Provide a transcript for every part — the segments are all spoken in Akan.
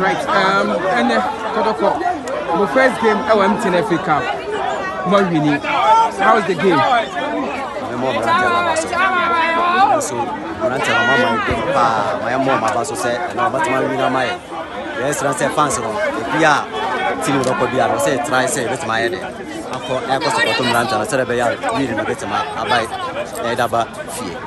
Right, um, ɛnɛ kɔtɔkɔ mo first game ɛwɔ MTN FA Cup mo awini how was the game. ɛmɛ mɔ mmerante alaba so ɛnɛ so mmerante alaba ma yɛ dɔn paa ma yɛ mɔ ɔmo aba so sɛ ɛnɛ ɔmo tuma awini ama yɛ yɛ sira sɛ fans no ebi a tiimu dɔkɔ bi a ɔsɛ ɛtra sɛ ɛbɛtuma ayɛ dɛ akɔ ɛkɔ sɔkɔtɔ mmerante alaba sɛ ɛbɛyɛ a wini no ɛbɛtuma aba ɛdaba fie.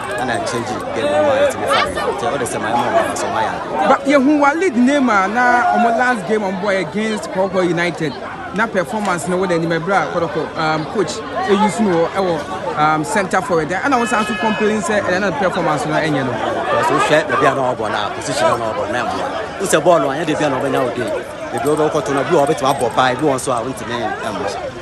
Yehowa lead Neymar na wɔn last game wɔn bɔ against Kɔkɔ United na performance na wɔn anim ɛbrɛ a Kɔkɔ um, coach eyi su no ɛwɔ um, center forward ɛna wɔn san so complain sɛ ɛna na performance na ɛnyɛ no. Ɛsɛ wohwɛ baabi a na ɔbɔ na position a na ɔbɔ na ɛmmoa. Wosɛ bɔɔl no anyɛ de bi a na ɔbɛnya ɔde. Ebi ɔbɛkɔtɔ no bi a ɔbɛtumi abɔ paa ebi wɔn so a wontumi ɛmmoa.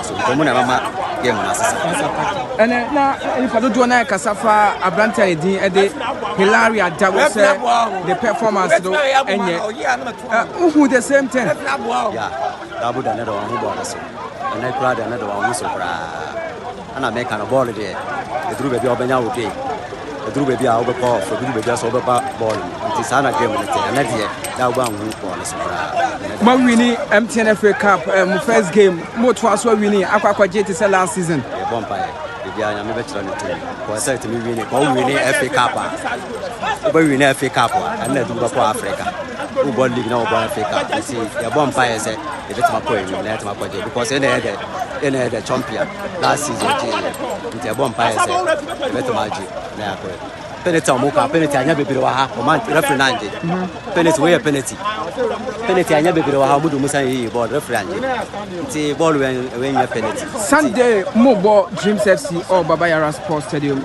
So nkɔmmɔ no na ɛbɛma game no asesa? Ɛnɛ na nnipa dodoɔ no rekasa fa aberanteɛ a ne din de Hilaria Dawo sɛ ne performance no ɛnyɛ. Wohu the same thing? Ya, Dawo da ne de wɔn ho bɔɔl no so. Ɛnɛ koraa deɛ ne de wɔn ho so koraa. Ɛna meka no bɔɔl deɛ ɛduru baabi a wobɛnya wo dwee. Ɛduru baabi a wobɛkɔ ɔfo, ɛduru baabi a sɛ wobɛba bɔɔl no. Nti saa na game no te. Ɛnɛ deɛ Dawo anhu bɔɔl no so koraa. Mawini MTN FA Cup, mo first game. Mo toa so wini akɔ akɔ gye te sɛ last season. Yɛ bɔ mpa yɛ bibia nyame bɛ kyerɛ no tumi kɔ sɛ tumi wini kɔ wini FA cup a wo bɛ wini FA cup a ɛna na dum bɛ kɔ Africa wo bɔ league na wo bɔ FA cup you see yɛ bɔ mpa yɛ sɛ yɛ bɛ tuma kɔ enim na yɛ tuma kɔ gye because ɛna yɛ dɛ ɛna yɛ dɛ champion last season gye yɛ nti yɛ bɔ mpa yɛ sɛ yɛ bɛ tuma gye na yɛ akɔ yɛ. penalty a wɔka penalty anya bebree wɔ ha wɔn ante referee no angye penalty wei yɛ penalty penalty anya bebree wɔ ha wɔn de wɔn san yiyi bɔɔl referee angye nti bɔɔl wɛn wɛn nyɛ penalty. sunday mo bɔ dreams fc ɔ oh, baba yara sports stadium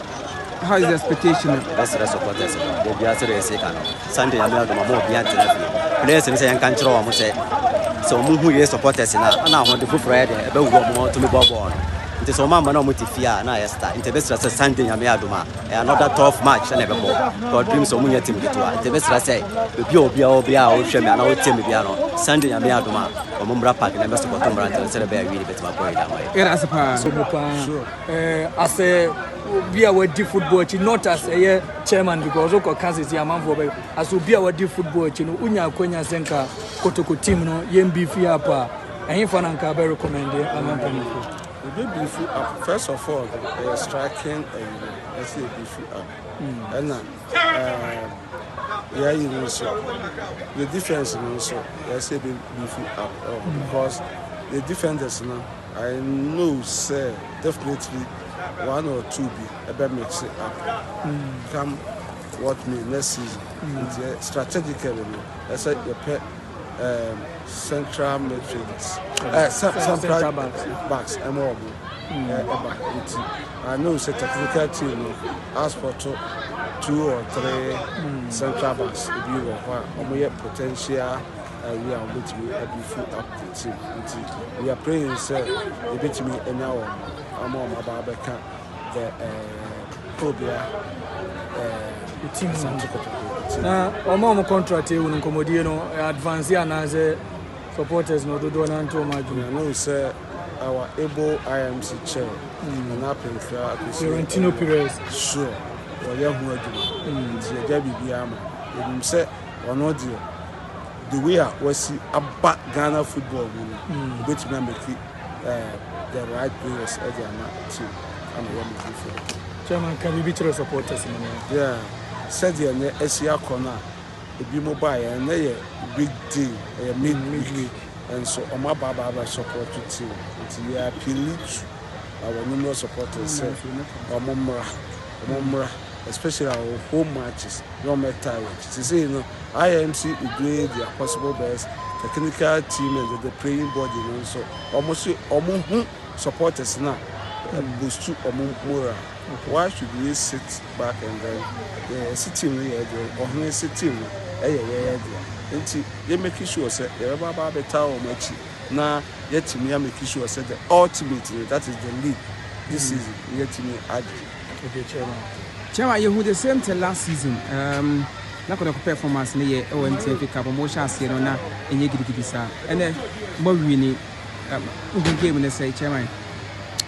how is the expectation. best rest supporters no de bi asere esi ka no sunday yamia dɔm ɔmo obi antena fi players no sɛ yɛn ka nkyerɛ wɔn sɛ sɛ wɔn hu yɛ supporters na ɛna ahoɔden foforɔ yɛ de ɛbɛwura wɔn tumi bɔ bɔɔl no nti sɛ wɔn amma na wɔn ti fie a na ayɛ star nti ɛbɛsira sɛ sunday yamia dɔm a Another tough match na ɛbɛbɔ cause dream sɛ ɔmo nyɛ team ketewa nti mesrɛ sɛ obi a obi a obi a ɔhwɛ mi anaa ɔtie mi bia no Sunday nyame adom a ɔmo mmra park na ɛbɛ support mmerante no sɛdeɛ ɛbɛyɛ a win bɛtumi akɔ yɛ de ama yɛ. Yɛda ase paa. So mo paa. Sure. Eh, as a obi a wadi football akyi not as ɛyɛ chairman because wokɔ ka sisi amanfoɔ bɛ as obi a wadi football akyi no wonya akwanya sɛ nka kotoko team no yɛn bi fi apɔ a ɛhefa na nka bɛ recommend ama mpanyinfoɔ. Ebi bi nso a first of all no ɛyɛ striking ɛyi no ɛsɛ yɛ bi so a ɛna ɛɛ yɛ ayi no nso yɛ defense no nso yɛsɛ bi bi so a because the defenders no I know sɛ definitely one or two bi ɛbɛ mix it up come what may next season nti strategically no ɛsɛ yɛpɛ um, central matrix eh, central box ɛma ɔmo ɛba nti I know sɛ technical team no aspɔt two or three hmm. central box ebi wɔ hɔ a ɔmo yɛ potential area a wɔbɛtumi abifu up the team nti we are praying sɛ yɛbɛtumi anya wɔn ama wɔn aba abɛka The eh, Kobia, eh, Uti Asante Kotoko. Na wɔn a wɔn contract ewu no nkɔmɔdie no advance anaasɛ supporters no dodoɔ na nto wɔn adwuma. Ɛno sɛ our able IMC chair hmm. nana apɛnfira apɛsi Florentino Perez sure wɔyɛ ho adwuma hmm. nti yɛgya biribiara ma ɛnim sɛ ɔno deɛ the way a wasi aba Ghana football mu no hmm. obɛtumi amɛki the right players ɛde eh, ama team ɛna ɛyɛ ne fufuo. chairman ka biribi kyerɛ supporters no nyinaa. yeah sɛdeɛ ɛnɛ asi akɔ no a ebi mo ba yɛ ɛnɛ yɛ big day ɛyɛ eh, mid mm, week nso ɔmo aba aba aba support team nti yɛ appeal to our numerous supporters sɛ ɔmo mmra ɔmo mmra. especially our home matches na wɔn ɛtaa yɛ akyi sesei no IMC Udue their possible best technical team and the playing body no nso wɔn se wɔn hu supporters no a boost wɔn morale why should we sit back and then yɛyɛ se team no yɛ ɛdeɛ ɔhene se team no ɛyɛ yɛyɛ ɛdeɛ nti yɛ make sure sɛ yɛbɛba aba abɛtaa wɔn akyi na yɛtumi a make sure sɛ the ultimate that is the league this season yɛtumi agye. Okay chairman. Chairman yehu the same thing last season um, na kɔtɔkɔ performance no yɛ ɛwɔ MTN pick up ɔmo hyɛ aseɛ no na ɛnyɛ gidigidi saa ɛnɛ mo awini um, wohu game no sɛ chairman.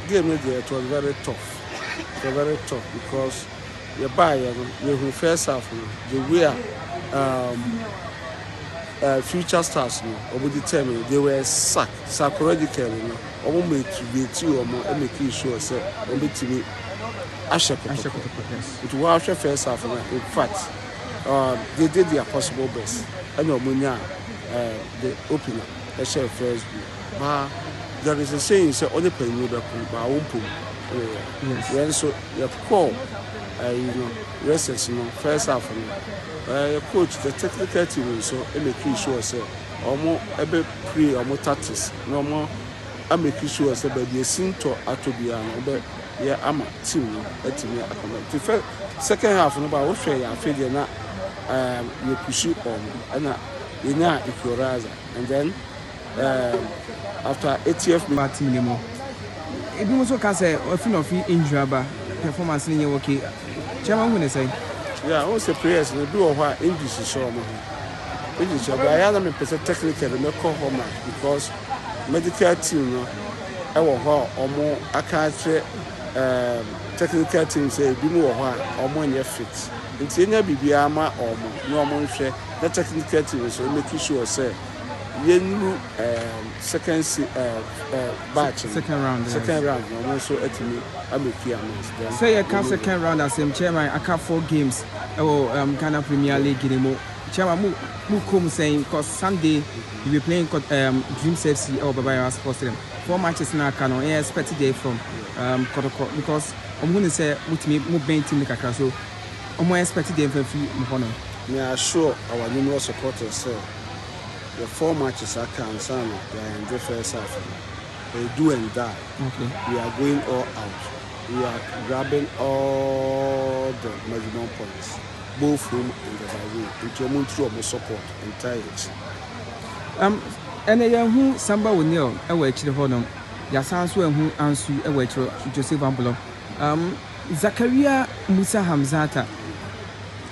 Game no deɛ it was very tough it was very tough because yɛbaeɛ no yɛhu first half no the way a um, uh, future stars no ɔmo di tɛm no they were sacked psychologically no Wɔn motivetii wɔn mekii sure sɛ wɔn bɛtumi ahyɛ kotokɔ nti hɔ ara hwɛ first half no in fact um, they did their possible best ɛna wɔn nyaa um, the opener ɛhyɛ first goal ba there is a saying sɛ ɔne panyin bɛko ba wɔn pom ɛna yɛ yɛn nso yɛ kɔɔ ɛyi no recess no first half no ɛɛ coach the technical team nso ɛmekii sure sɛ wɔbɛpre wɔn taxes na wɔamake sure sɛ baabi a sintɔ atɔ biara no wɔbɛyɛ ama team no atumi accommodate. Nti fir second half no ba a wohwɛ yɛn afei deɛ na um, yɛpusu wɔn ɛna yɛnyaa equalizer and then um, after 80th minute. ba team no mu. Ebinom nso ka sɛ ɔfi na ɔfi injury aba, performance no nyɛ okay. Chairman hu ne sɛn? Yeah, wohu sɛ players no bi wɔ hɔ a injuries hyɛ wɔn ho. Egyigye ɔbaa ɛyɛ a na mepɛ sɛ technically mɛkɔ hɔ ma because medical team no ɛwɔ hɔ a ɔmo aka akyerɛ ɛɛm technical team sɛ ebi mo wɔ hɔ a ɔmo nyɛ fit nti yɛnya biribiara ma ɔmo na ɔmo nhwɛ na technical team nso emeki sure sɛ yɛnuru ɛɛm second se ɛɛ ɛɛ batch no Second round, yes. second round na ɔmo nso atumi ameki announce then Sɛ yɛka yɛnuru. second round asɛm, Chairman, aka four games ɛwɔ um, Ghana Premier League no mu. Chairman, mo mo kom sɛn? Cause Sunday you be playing kɔ um, Dreams FC ɛwɔ Baba Yara Sports Stadium. Four matches na aka no, yɛn expect deɛ from um, Kɔtɔkɔ because wɔn hu ne sɛ mo tumi mo bɛn team no kakra so wɔn expect deɛ nfa firi mo hɔ nom. Me assure our numerous supporters sɛ yɛ four matches aka ansa na yɛ endure first half no. Ɛyɛ do and die. Okay. We are going all out. We are grabbing all the maximum points both home and away nti ɔmo nturu ɔmo support ntae akyi. Um ɛnɛ yɛnhu Samba O'Neal wɔ akyire hɔ nom, yɛasan nso anhu Ansu wɔ akyire hɔ, Jose Van Blom, um Zakaria Musa Hamzata.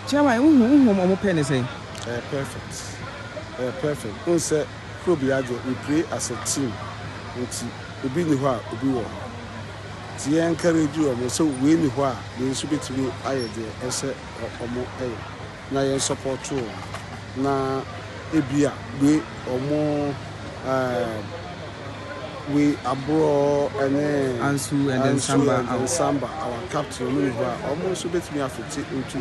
Chairman wohu wohu ɔmo ɔmo pɛ ne sɛn? Ɛyɛ perfect ɛyɛ perfect wohu sɛ kuro biara deɛ we pray as a team nti obi nni hɔ a obi wɔ hɔ Nti yɛ encourage wɔn sɛ wei nni hɔ a wei nso bɛtumi ayɛ deɛ ɛsɛ wɔyɛ na yɛn support wɔn na ebia wei wɔn ɛɛm wei aborɔ ɛne Ansu and Nsamba, our captain wɔn nni hɔ a wɔn nso bɛtumi afiti ntwi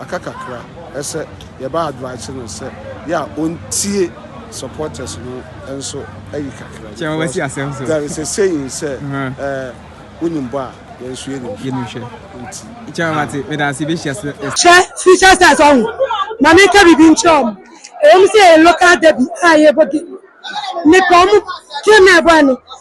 aka kakra sɛ yɛbɛ advise no sɛ yɛ a ɔntie supporters no nso ayi kakra because there is a saying sɛ wonim bɔ a yɛn nso yɛnim hwɛ nti kyɛ mate meda ase bɛhyia kyɛ future stars ɔho ma meka biribi nkyerɛ ɔm ɛwɔ mu sɛ yɛ local derby a yɛbɔ game mepɛ ɔm game a ɛbɔ ɛno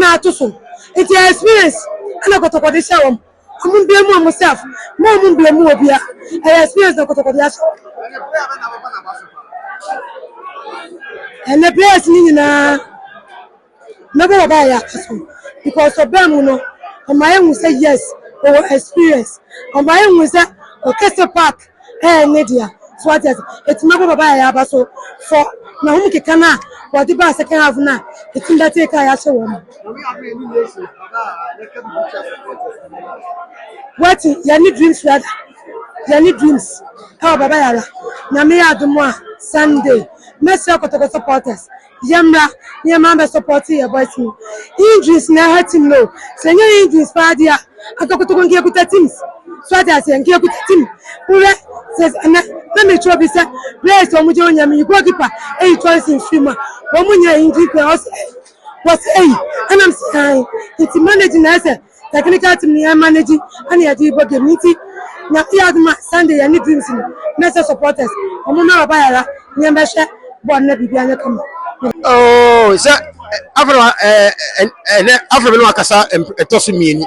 na ato so nti ɛyɛ experience na kɔtɔkɔde hyɛ wɔn wɔn mbea mu wɔn self ma wɔn mbea mu wɔ bia ɛyɛ experience na kɔtɔkɔde ahyɛ wɔn ɛnɛ players ni nyinaa na bɔ wɔba yɛ ato so because ɔbɛn mu no wɔn ayɛ hu sɛ yes wɔwɔ experience wɔn ayɛ hu sɛ ɔkɛse park. ɛnyɛ dea so wate ase ɛtumi abɔ baba yɛ aba so fɔ na hom keka no a wɔde baa second half no a ɛtumi bɛ tee kaa yɛahyɛ wɔn wate yɛne dreams rather yɛne dreams ɛwɔ baba yara nyame yɛ adom a Sunday mɛsrɛ kɔtɔkɔ supporters Yɛmmra na yɛmma bɛ support yɛ boys no injuries na ɛha team no sɛ ɛnyɛ injuries paa deɛ a anka kotoko nka ɛkuta teams so ate aseɛ nka ɛkuta team wohwɛ sɛ ɛnɛ na mekyerɛ obi sɛ players wɔn gyina onyame yi goalkeeper ɛyi tɔnsi mfiri mu a wɔn nyɛ injury players wɔsɛ ɛyi ɛnam sɛ nti manage na ɛsɛ Technical team ne yɛ manage ɛna yɛde rebɔ game ne nti na yɛ ade ma Sunday yɛ ne dreams no na sɛ supporters wɔn mma baba yara ne yɛn bɛhwɛ bɔɔl no na biribi anyɛ kama. Oh sɛ afei na ɛnɛ afei mi na wakasa ɛtɔ so mmienu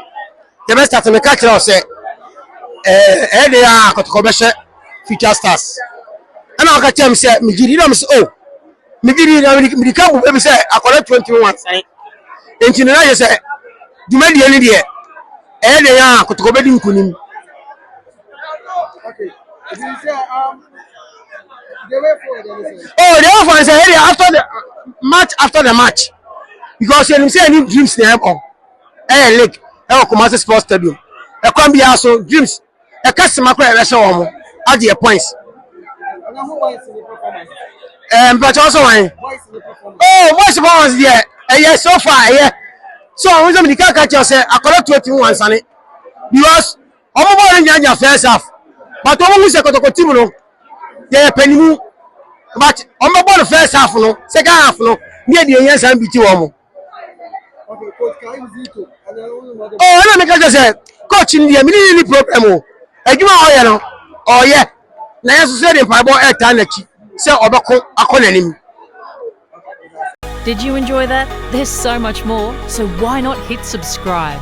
yɛ bɛ start mi ka kyerɛ ɔsɛ ɛyɛ de a kɔtɔkɔ bɛhyɛ future stars ɛna waka kyerɛ mi sɛ mi gyi di na mi sɛ oh. megye di na mede ka bu baabi sɛ akɔda twenty one san nti no na yɛ sɛ dwumadie no deɛ ɛyɛ dɛn a kotoko bɛdi nkonim Oh, the other one say hey, after the match after the match because yɛnim sɛ yɛne dreams na ɛbɔ ɛyɛ league ɛwɔ Kumasi sports stadium ɛkwan biara so dreams ɛka sima koraa ɛbɛhyɛ wɔn mo adeɛ points ɛɛ eh, mpakyɛw sɛ wɔn oh voice performance deɛ ɛyɛ so far ɛyɛ so wɔn sɛ mi di kaa kaa kyerɛ sɛ akɔla tuo ti mu wɔn nsane because wɔn bɔ wɔn nyina nyina first half but wɔn mu sɛ kɔtɔkɔ ti mu no yɛyɛ panimu but wɔn bɛ bɔ no first half no second half no ne yɛ deɛ yɛn san bi ti wɔn mo. Oh, ɛna meka kyɛ sɛ coach no deɛ mene ne ni problem o adwuma a ɔyɛ no ɔyɛ na yɛ nso sɛ de mpaebɔ ɛtaa n'akyi sɛ ɔbɛko akɔ n'anim Did you enjoy that? There's so much more, so why not hit subscribe?